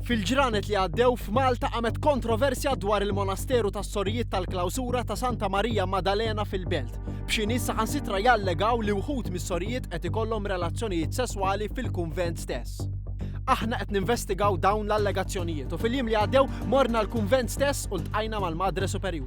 Fil-ġranet li għaddew, f'Malta qamet kontroversja dwar il-monasteru tas-Sorijiet tal-Klawsura ta' Santa Marija Maddalena fil-Belt, b'xi nies saħansitra jallegaw li wħud mis-sorijiet qed ikollhom relazzjonijiet sesswali fil-kunvent stess. Aħna qed ninvestigaw dawn l-allegazzjonijiet u fil-jiem li għaddew morna l-kunvent stess u ltqajna mal-Madre Superjura.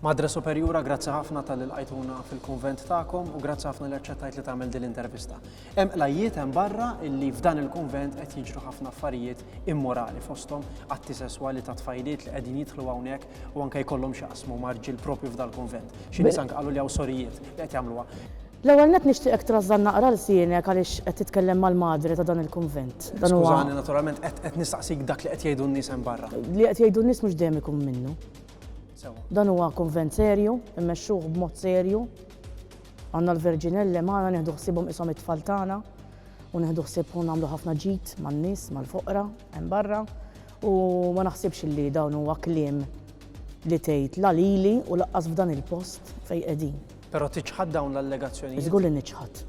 Madre Superjura, grazzi ħafna tal lqajtuna fil-kunvent tagħkom u grazzi ħafna li aċċettajt li tagħmel din l-intervista. Hemm qlajjiet hemm barra illi f'dan il-kunvent qed jiġru ħafna affarijiet immorali fosthom atti sesswali ta' tfajliet li qegħdin jidħlu hawnhekk u anke jkollhom x'jaqsmu marġil propju f'dal-kunvent. Xi nies anke qalu li hawn sorijiet li qed jagħmluha. L-ewwel nett nixtieqek trażżan naqra lsienek għaliex qed titkellem mal-Madre ta' dan il-kunvent. Dan huwa. Skużani naturalment qed nistaqsik dak li qed jgħidu n-nies hemm barra. Li qed jgħidu n-nies mhux dejjem ikun minnu. Sewwa. Dan huwa kunvent serju, immexxuh b'mod serju. Għandna l-Verġinelle magħna nieħdu ħsiebhom qishom it-tfal tagħna u nieħdu ħsieb u nagħmlu ħafna ġid man-nies, mal-foqra hemm barra u ma naħsibx li dawn huwa kliem li tgħid la lili u laqqas f'dan il-post fejn qegħdin. Però tiċħad dawn l-allegazzjonijiet? Żgur li niċħad.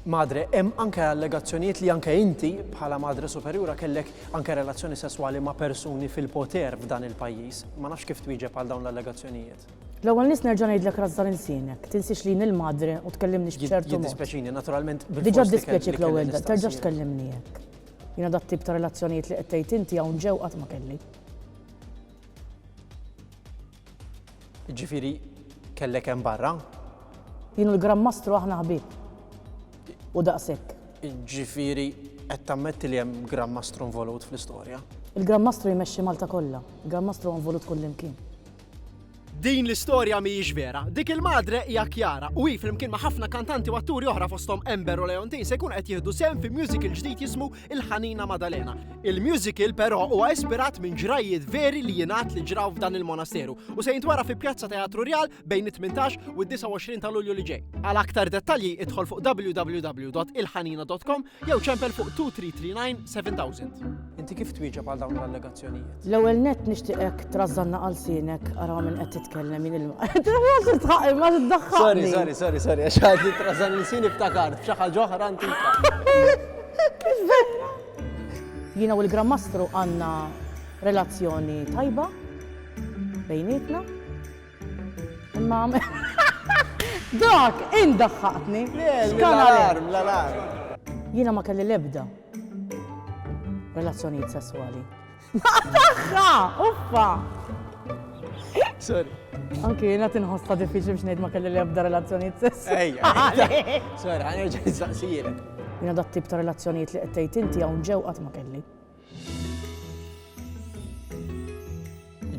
madre, hemm anke allegazzjonijiet li anke inti bħala madre superjura kellek anke relazzjoni sesswali ma' persuni fil-poter f'dan il-pajjiż. Ma nafx kif twieġeb għal dawn l-allegazzjonijiet. L-ewwel nist nerġa' ngħidlek rażżan ilsienek, tinsiex li jien il-madre u tkellimni x'b'ċertu mod. Jiddispjaċini, naturalment bil-fors. Diġà ddispjaċik l-ewwel darba, terġax tkellimni hekk. Jiena dat-tip ta' relazzjonijiet li qed tgħid inti hawn ġew qatt ma kelli. Jiġifieri kellek hemm barra? Jien u l-Gran Mastru aħna ħbieb. U daqshekk. Jiġifieri qed tammetti li hemm Gran Mastru involut fl-istorja? Il-Gran Mastru jmexxi Malta kollha. Il-Gran Mastru huwa involut kullimkien. Din l-istorja mhijiex vera. Dik il-madre hija Chiara u hi flimkien ma' ħafna kantanti u atturi oħra fosthom Ember u Leontin se jkunu qed jieħdu sehem fi musical ġdid jismu il-Ħanina Madalena. Il-musical però huwa ispirat minn ġrajjiet veri li jingħad li ġraw f'dan il-monasteru u se jintwara fi Pjazza Teatru Rjal bejn it-18 u 29 ta' Lulju li ġej. Għal aktar dettalji idħol fuq www.ilħanina.com jew ċempel fuq 2339 7000. Inti kif twieġeb għal dawn l-allegazzjonijiet? L-ewwel nett nixtieqek trażżanna għal sienek ara minn qed titkellem jien il-ma. Sorry, sorry, sorry, sorry, għax għadni trażżan l-sini ftakart, f'xaħġa ġoħra antika. Happy Vera! Jiena u l-Gran Mastru għandna relazzjoni tajba bejnietna. Imma Dak indaħħaqtni! Jiena ma kelli l-ebda relazzjonijiet sesswali. Naqa' tagħha! Uffa! Sorry. Anki jiena tinħossa diffiċli biex ngħid ma kelli li ebda relazzjonijiet sess. Ejja. Sorry, ħanerġa' nistaqsijilek. Jiena dat tip ta' relazzjonijiet li qed tgħid inti hawn ġew qatt ma kelli.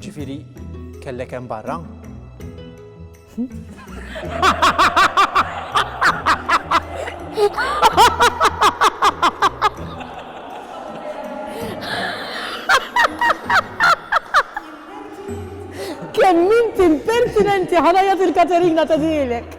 Ġifieri kellek hemm barra? Kemm inti impertinenti ħanajja fil-Katerina ta' dilek.